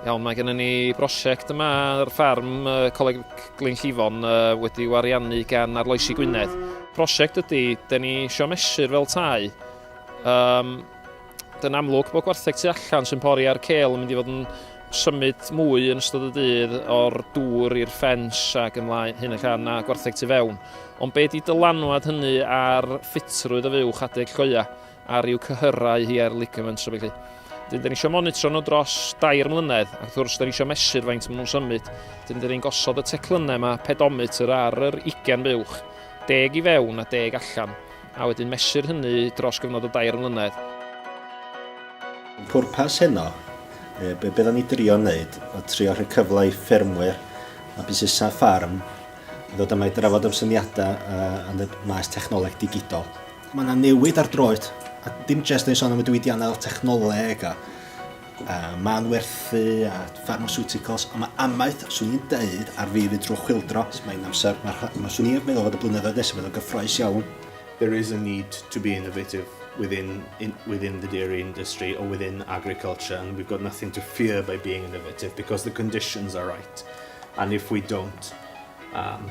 Iawn, mae gennym ni brosiect yma ar ffarm uh, Coleg Glyn Llifon uh, wedi wariannu gan Arloesi Gwynedd. Prosiect ydy, da ni eisiau mesur fel tai um, Yn amlwg bod gwartheg tu allan sy'n pori ar cel yn mynd i fod yn symud mwy yn ystod y dydd o'r dŵr i'r ffens ac ymlaen hyn ac arna gwartheg tu fewn. Ond be di dylanwad hynny ar ffitrwydd y fuwch adeg coia a rhyw cyhyrau hi ar ligaments a felly. Dyn, dyn ni eisiau monitro nhw dros dair mlynedd, ac wrth gwrs, dyn ni eisiau mesur faint maen nhw'n symud. Dyn, dyn ni'n gosod y teclynnau yma, pedometr ar yr 20 buwch, deg i fewn a deg allan. A wedyn mesur hynny dros gyfnod o dair mlynedd. Pwrpas heno, yy be' be' 'dan ni drio neud o trio rhoi cyfle i ffermwyr a busnesa' ffarm ddod yma i drafod am syniada' yy yn y maes technoleg digidol. Ma' 'na newid ar droed a dim jest yn sôn am y diwydianna' technoleg a a manwerthu a pharmasiwticals, ond mae amaeth, swn i'n deud, ar fi fynd drwy chwildro, so mae'n amser, mae rha- mae- swn i'n meddwl fod y blynyddoedd nesaf fydd o'n gyffrous iawn. There is a need to be innovative within in, within the dairy industry or within agriculture, and we've got nothing to fear by being innovative because the conditions are right. And if we don't, um,